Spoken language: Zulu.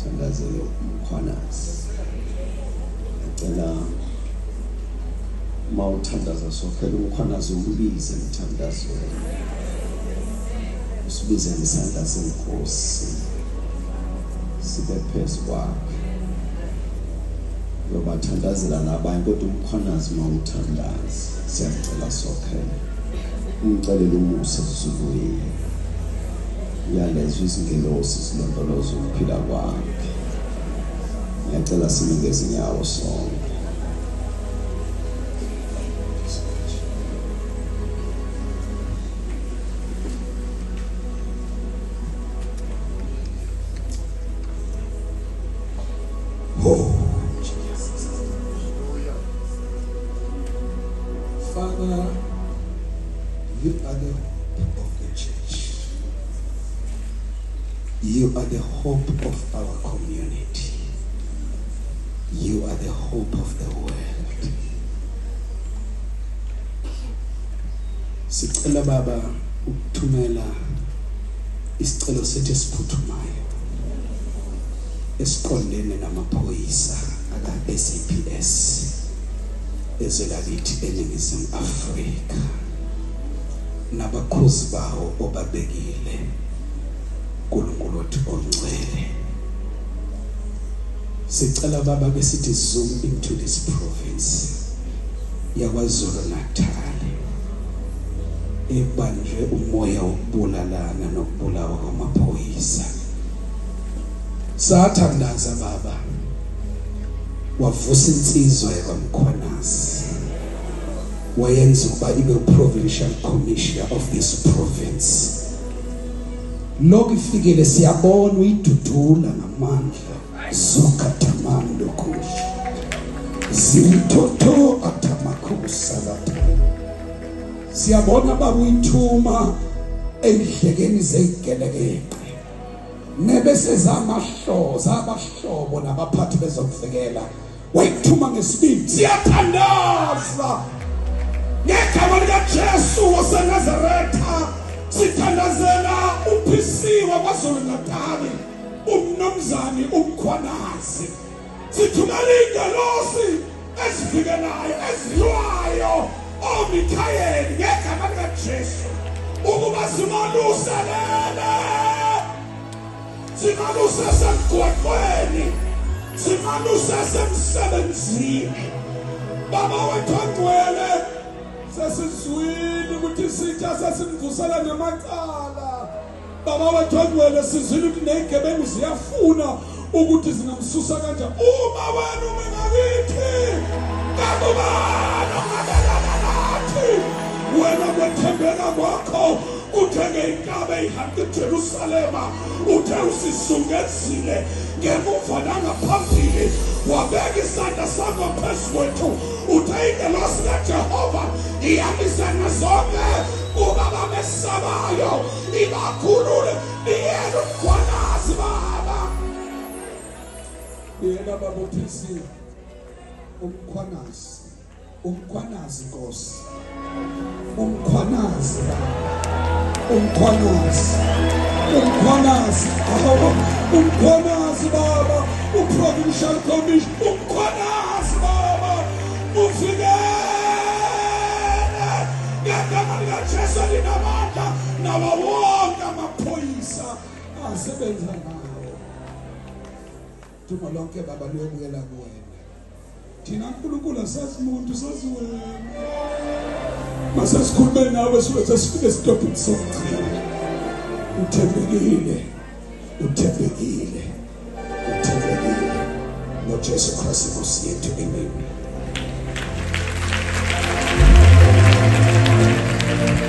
Sithandazelo Mkhwanazi. Ngicela uma uthandaza sokhela umkhwanazi umbize emthandazweni. Usibize ngesandla senkosi. Sibe phezu kwakhe. Uyobathandazela nabanye kodwa umkhwanazi uma uthandaza. Siyacela sokhela. Umcelele umusa Zulu yethu. Uyalezwa izingelosi zilondoloza ukuphila kwakhe. Ngiyacela sime ngezinyawo sonke. You are the hope of our community. You are the hope of the world. Sicela baba ukuthumela isicelo sethu esiphuthumayo esiqondene namaphoyisa aka-SAPS ezwe lakithi eNingizimu Afrika. nabakhozi bawo obabekile uNkulunkulu wethu ongcwele sicela baba ke sithi zoom into this province yakwaZulu Natal ebanjwe umoya wokubulalana nokubulawa kwamaphoyisa sathandaza baba wavusa insizwa yakwamkhonasi wayenza ukuba ibe provincial commissioner of this province lokho ifikele siyabona uyidudula ngamandla suka tamani lokuhle zimthotho atamakusa lapha siyabona baba uyithuma endlekeni zeyigelekeqe nebesezamahloza abahlobo nabaphathi bezokuvikela wayikuthuma ngesibindi siyathandaza ngegama likaJesu waseNazaretha sithandazela uphisiwa kwaZulu Natali umnomzane umkhwanazi sithumela ingelosi ezifike nayo ezilwayo oMikhayeli ngegama likaJesu ukuba simaluselele Simane usesemgwaqweni. Simane usesemsebenzini. Baba wethu angcwele sesizwile ukuthi isitsha sesimvusela ngamacala. Baba wethu angcwele sizwile ukuthi nezigebengu ziyafuna ukuthi zingamsusa kanjani. Uma wena uma ngakithi kakubani ongamelana nathi wena kwethembeka kwakho Uthe ngeyinkabe ihambe eJerusalema uthe usizungezile ngemuva nangaphambili wabeka isandla sakho phezu kwethu uthe ingelosi kaJehova iyabizana zonke kuba bamesabayo ibakhulule niyele umkhwanazi baba yena babuthisile umkhwanazi Umkhwanazi Nkosi. Umkhwanazi. Umkhwanazi. Umkhwanazi. Baba. Umkhwanazi baba. Uprovincial commission. Umkhwanazi baba. Ufike. Ngegama likaJesu linamandla nawo wonke amaphoyisa asebenza ngayo. Dumo lonke baba luyobuyela kuwena. Thina uNkulunkulu asazi umuntu sazi wena. Masasikhulume nawe sibe sesifike esitopini sokuchela. Uthembekile. Uthembekile. Uthembekile. NgoJesu Kristu Nkosi yethu. Amen.